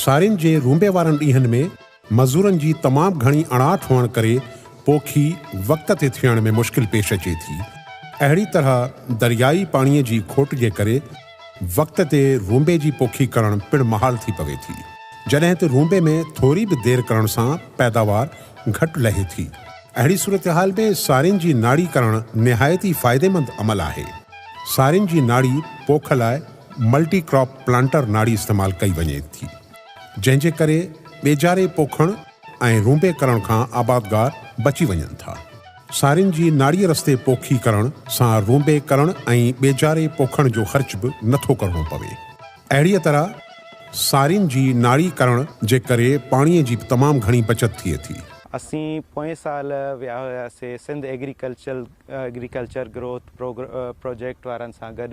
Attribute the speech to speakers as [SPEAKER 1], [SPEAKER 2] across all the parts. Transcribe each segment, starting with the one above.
[SPEAKER 1] سارين جي رونبي وارن ڏينهن ۾ مزورن جي تمام گهڻي اڻاٺ هئڻ ڪري پوکي وقت تي ٿيڻ ۾ مشڪل پيش اچي ٿي. اهڙي طرح دريائي پاڻيء جي کوٽ جي ڪري وقت تي رونبي جي پوکي ڪرڻ پڻ محال ٿي پوي ٿي. جڏهن ته رونبي ۾ ٿوري به دير ڪرڻ سان پيداوار گهٽ لهي ٿي. اهڙي صورتحال ۾ سارين جي ناڙي ڪرڻ نهايت ئي فائديمند عمل آهي. سارين جي ناڙي پوک لاء ملٽي ڪراپ پلانٽر ناڙي استعمال ڪئي وڃي ٿي جنهن جي ڪري ٻيجاري پوکڻ ۽ رونبي ڪرڻ کان آبادگار بچي وڃن ٿا. سارين جي ناڙي رستي پوکي ڪرڻ سان رونبي ڪرڻ ۽ ٻيجاري پوکڻ جو خرچ به نٿو ڪرڻو پوي. اهڙيء طرح سارين جي ناڙي ڪرڻ جي ڪري پاڻيء جي به تمام گهڻي بچت ٿئي ٿي. اسين پوئين
[SPEAKER 2] سال ويا هياسين سنڌ ايگريڪلچر گروٿ پروجيڪٽ وارن سان گڏ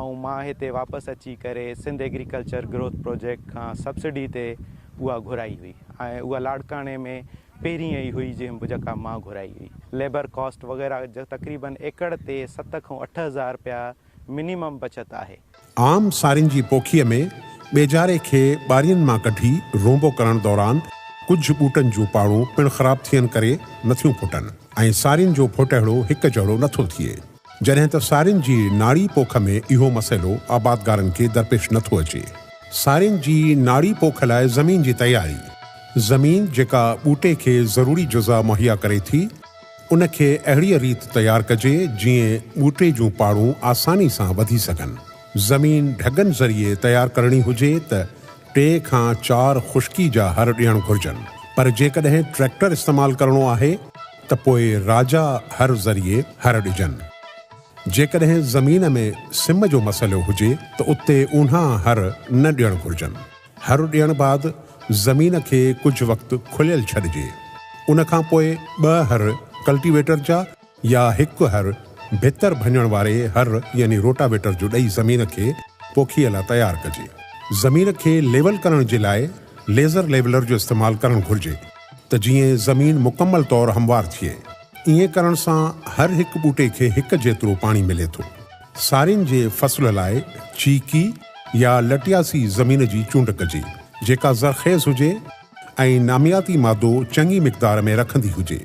[SPEAKER 2] ۽ مان هتي واپس اچي ڪري سنڌ ايگريڪلچر گروٿ پروجيڪٽ کان سبسڊي تي اها گهرائي هئي ۽ اها لاڙڪاڻي ۾ پهرين ئي هئي جنهن جيڪا مان گهرائي هئي. ليبر ڪاسٽ وغيره تقريبن ايڪڙ تي ست کان اٺ هزار رپيا منيمم بچت آهي. عام سارين
[SPEAKER 1] جي پوکيء ۾ ٻيجاري کي ٻارين مان ڪڍي رونبو ڪرڻ دوران ڪجهه ٻوٽن جون پاڙون پڻ خراب ٿيڻ ڪري نٿيون ڦٽن ۽ سارين جو ڦٽهڙو هڪ جهڙو نٿو ٿئي. جڏهن ته سارين جي ناڙي پوک ۾ اهو مسئلو آبادگارن کي درپيش نه ٿو اچي. سارين جي ناڙي پوک لاء زمين جي تياري، زمين جيڪا ٻوٽي کي ضروري جزا مهيا ڪري ٿي، ان کي اهڙيء ريت تيار ڪجي جيئن ٻوٽي جون پاڙون آساني سان وڌي سگهن. زمين ڍڳن ذريعي تيار ڪرڻي هجي ته ٽي کان چار خشڪي جا هر ڏيڻ گهرجن، پر جيڪڏهن ٽريڪٽر استعمال ڪرڻو آهي، ته پوء راجا هر ذريعي هر ڏجن. جيڪڏهن زمين ۾ سم جو مسئلو هجي ته اتي اونها هر نه ڏيڻ گهرجن. هر ڏيڻ بعد زمين کي ڪجهه وقت کليل ڇڏجي. ان کان پوء ٻه هر ڪلٽيويٽر جا يا هڪ هر ڀتر ڀڃڻ واري هر يعني روٽاويٽر جو ڏئي زمين کي پوکيء لاء تيار ڪجي. زمين کي ليول ڪرڻ جي لاء ليزر ليولر جو استعمال ڪرڻ گهرجي. ته جيئن زمين مڪمل طور هموار ٿئي. ائين ڪرڻ سان هر هڪ ٻوٽي کي هڪ جيترو پاڻي ملي ٿو. سارين جي فصل لاء چيڪي يا لٽياسي زمين جي چونڊ ڪجي، جيڪا زرخيز هجي ۽ نامياتي مادو چڱي مقدار ۾ رکندي هجي.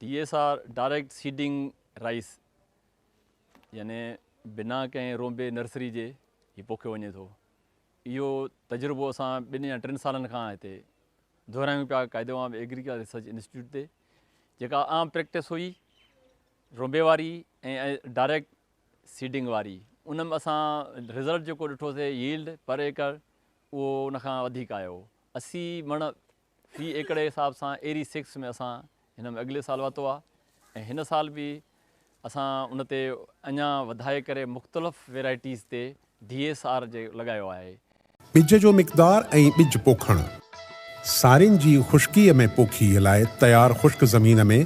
[SPEAKER 1] D S
[SPEAKER 3] R, direct seeding rice, يعني بنا ڪنهن رونبي نرسري جي هي پوکيو وڃي ٿو. اهو تجربو اسان ٻن يا ٽن سالن کان هتي دهرايون پيا، قاعدي وانء به ايگريڪلچر ريسرچ انسٽيٽيوٽ تي جيڪا عام پريڪٽس هئي رونبي واري ۽ ڊائريڪٽ سيڊنگ واري ان ۾ اسان رزلٽ جيڪو ڏٺوسي ييلڊ پر ايڪڙ اهو ان کان وڌيڪ آيو اسي مڻ في ايڪڙ جي حساب سان ايري سڪس ۾ اسان هن ۾ اڳلي سال واتو آهي ۽ هن سال به اسان ان تي اڃا وڌائي ڪري مختلف ويرائٽيز تي ڊي ايس آر جي لڳايو آهي. ٻج جو
[SPEAKER 1] مقدار ۽ ٻج پوکڻ. سارين جي خشڪيء ۾ پوکيء لاء تيار خشڪ زمين ۾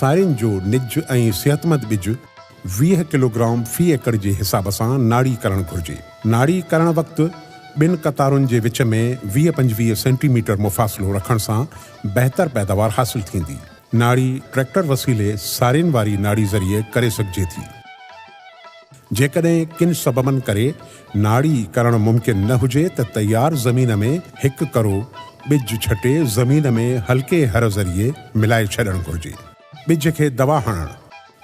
[SPEAKER 1] سارين جو نج ۽ صحتمند ٻج ويهه ڪلوگرام في ايڪڙ جي حساب سان ناڙي ڪرڻ گهرجي. ناڙي ڪرڻ وقت ٻن قطارن جي وچ ۾ ويهه پنجويهه سينٽي ميٽر مفاصلو رکڻ سان بهتر پيداوار حاصل ٿيندي. ناڙي ٽريڪٽر وسيلي سارين واري ناڙي ذريعي ڪري سگهجي ٿي. جيڪڏهن ڪن سببن ڪري ناڙي ڪرڻ ممڪن نه هجي ته تيار زمين ۾ هڪ ڪرو ٻج ڇٽي زمين ۾ هلڪي هر ذريعي ملائي ڇڏڻ گهرجي. ٻج کي دوا هڻڻ،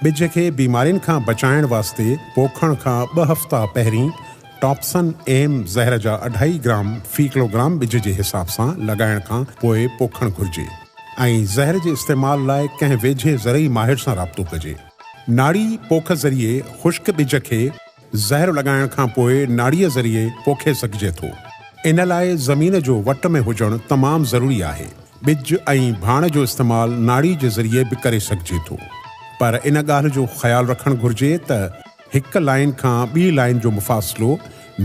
[SPEAKER 1] ٻج کي بيمارين کان بچائڻ واسطي پوکڻ کان ٻه هفتا پهرين ٽاپسن ايم زهر جا اڍائي گرام في ڪلوگرام ٻج جي حساب سان لڳائڻ کان پوء پوکڻ گهرجي ۽ زهر جي استعمال لاء ڪنهن ويجهي زرعي ماهر سان رابطو ڪجي. ناڙي پوک ذريعي خشڪ ٻج کي. زهر لڳائڻ کان پوء ناڙيء ذريعي پوکي سگهجي ٿو. ان لاء زمين جو وٽ ۾ هجڻ تمام ضروري آهي. ٻج ۽ ڀاڻ جو استعمال ناڙي جي ذريعي به ڪري سگهجي ٿو. پر ان ڳالهه جو خيال رکڻ گهرجي ته هڪ لائين کان ٻي لائين جو مفاصلو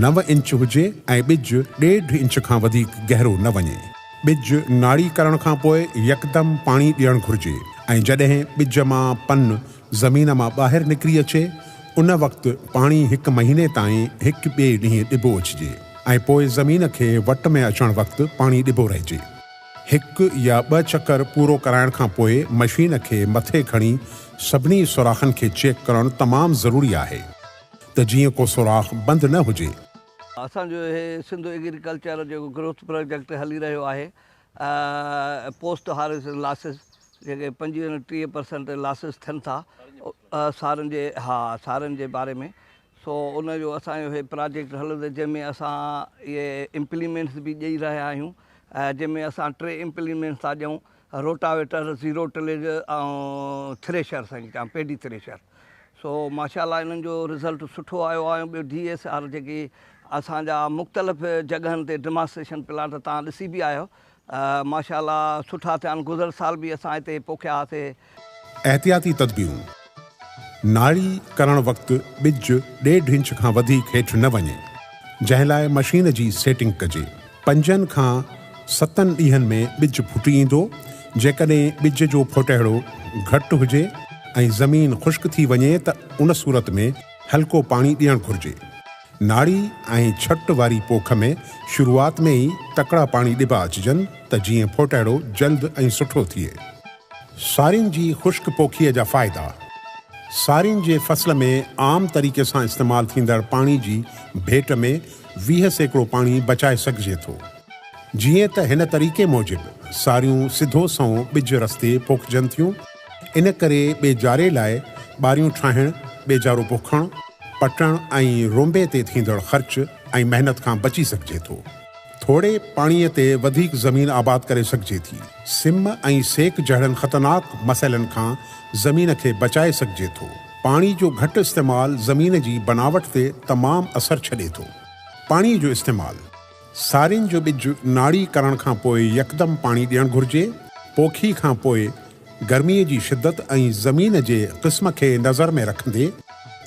[SPEAKER 1] نو انچ هجي ۽ ٻج ڏيڍ انچ کان وڌيڪ گهرو نه وڃي. ٻج ناڙي ڪرڻ کان پوء يڪدم پاڻي ڏيڻ گهرجي ۽ جڏهن ٻج مان پن زمين مان ٻاهر نڪري اچي، ان وقت پاڻي هڪ مهيني تائين هڪ ٻئي ڏينهن ڏبو اچجي ۽ پوء زمين کي وٽ ۾ اچڻ وقت پاڻي ڏبو رهجي. هڪ يا ٻه چڪر پورو ڪرائڻ کان پوء مشين کي مٿي کڻي سڀني سوراخن کي چيڪ ڪرڻ تمام ضروري آهي ته جيئن ڪو سوراخ بند نه هجي. اسان جو
[SPEAKER 4] هي سنڌ ايگريڪلچر جيڪو گروٿ پراجيڪٽ هلي رهيو آهي پوسٽ هاريسٽ لاسز جيڪي پنجويهه ۽ ٽيهه پرسنٽ لاسز ٿين ٿا سارن جي ها سارن جي باري ۾ سو ان جو اسان جو هي پراجيڪٽ هلندو جنهن ۾ اسان اهي امپليمينٽس به ڏئي رهيا آهيون جنهن ۾ اسان ٽي امپليمينٽس ٿا ڏيون روٽاويٽر زيرو ٽليج ۽ ٿريشر سائين چان پيڊي ٿريشر سو ماشاء الله انهن جو رزلٽ سٺو آيو آهي ۽ ٻيو ڊي ايس آر جيڪي اسان جا مختلف جڳهن تي ڊماسٽريشن پلاٽ تان ڏسي به آيو ماشاء الله سٺا ٿيا آهن گذريل سال به اسان هتي پوکيا هئاسي. احتياطي
[SPEAKER 1] تدبيرون، ناڙي ڪرڻ وقت ٻج ڏيڍ انچ کان وڌيڪ هيٺ نه وڃي جنهن لاء مشين جي سيٽنگ ڪجي. پنجن کان ستن ڏينهن ۾ ٻج ڦٽي ايندو، جيڪڏهن ٻج جو ڦوٽهڙو گهٽ هجي ۽ زمين خشڪ ٿي وڃي ته ان صورت ۾ هلڪو پاڻي ڏيڻ گهرجي. ناڙي ۽ ڇٽ واري پوک ۾ شروعات ۾ ئي تڪڙا پاڻي ڏبا اچجن ته جيئن ڦوٽهڙو جلد ۽ سٺو ٿئي. سارين جي خشڪ پوکيء جا فائدا. سارين جي فصل ۾ عام طريقي سان استعمال ٿيندڙ پاڻي جي ڀيٽ ۾ ويهه سيڪڙو پاڻي بچائي سگهجي ٿو. جيئن ته هن طريقي موجب ساريون سڌو سنئون ٻج رستي پوکجن ٿيون، ان ڪري ٻيجاري لاء ٻاريون ٺاهڻ، ٻيجارو پوکڻ، پٽڻ ۽ رونبي تي ٿيندڙ خرچ ۽ محنت کان بچي سگهجي ٿو. ٿوري پاڻي تي وڌيڪ زمين آباد ڪري سگهجي ٿي. سم ۽ سيڪ جهڙن خطرناڪ مسئلن کان زمين کي بچائي سگهجي ٿو. پاڻي جو گهٽ استعمال زمين جي بناوٽ تي تمام اثر ڇڏي ٿو. پاڻي جو استعمال، سارين جو ٻج ناڙي ڪرڻ کان پوء يڪدم پاڻي ڏيڻ گهرجي، پوکي کان پوء گرمي جي شدت ۽ زمين جي قسم کي نظر ۾ رکندي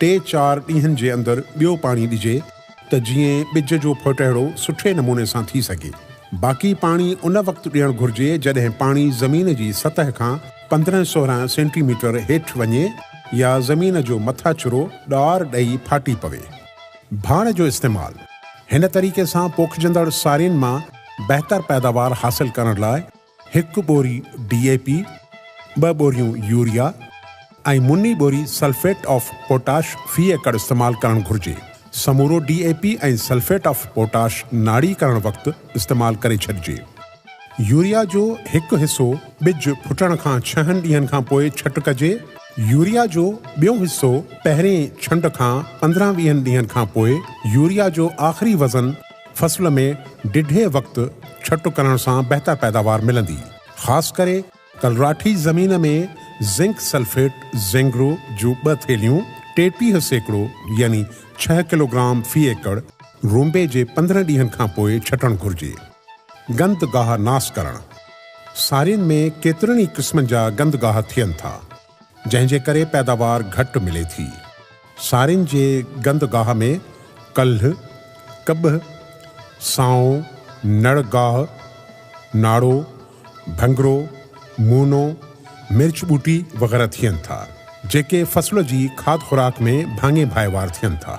[SPEAKER 1] ٽي چار ڏينهن جي اندر ٻيو پاڻي ڏجي ته جيئن ٻج جو ڦوٽهڙو سٺي نموني سان ٿي سگهي. باقي پاڻي ان وقت ڏيڻ گهرجي جڏهن پاڻي زمين جي سطح کان پندرهن سورهن سينٽي ميٽر هيٺ وڃي يا زمين جو مٿاڇرو ڏار ڏئي ڦاٽي پوي. ڀاڻ جو استعمال، هن طريقي سان پوکجندڙ سارين مان بهتر پيداوار حاصل ڪرڻ لاء هڪ ٻوري ڊي اي پي، ٻه ٻوريون يوريا ۽ مني ٻوري سلفيٽ آف پوٽاش في ايڪڙ استعمال ڪرڻ گهرجي. سمورو D A P ۽ sulphate of potash ناڙي ڪرڻ وقت استعمال ڪري ڇڏجي. يوريا جو هڪ حصو ٻج ڦٽڻ کان ڇهن ڏينهن کان پوء ڇٽ ڪجي. يوريا جو ٻيو حصو پهرين ڇنڊ کان پندرهن ويهن ڏينهن کان پوء يوريا جو آخري وزن فصل ۾ ڊگهي وقت ڇٽ ڪرڻ سان بهتر پيداوار ملندي. خاص ڪري ڪلراٺي زمين ۾ زنڪ سلفيٽ، زينگرو، جون ٻه ٿيلهيون، ٽيٽيهه سيڪڙو يعني ڇهه ڪلوگرام في ايڪڙ، رونبي جي پندرهن ڏينهن کان پوء ڇٽڻ گهرجي. گندگاهه ناس ڪرڻ، سارين ۾ ڪيترن ئي قسمن جا گندگاهه ٿين ٿا، جنهن جي ڪري پيداوار گهٽ ملي ٿي. سارين جي گندگاهه ۾ ڪلهه، ڪٻهه، سانو، نڙ گاهه، ناڙو، ڀنگرو، مونو، مرچ ٻوٽي وغيره ٿين ٿا، جيڪي فصل جي کاڌ خوراڪ ۾ ڀاڱي ڀائيوار ٿين ٿا.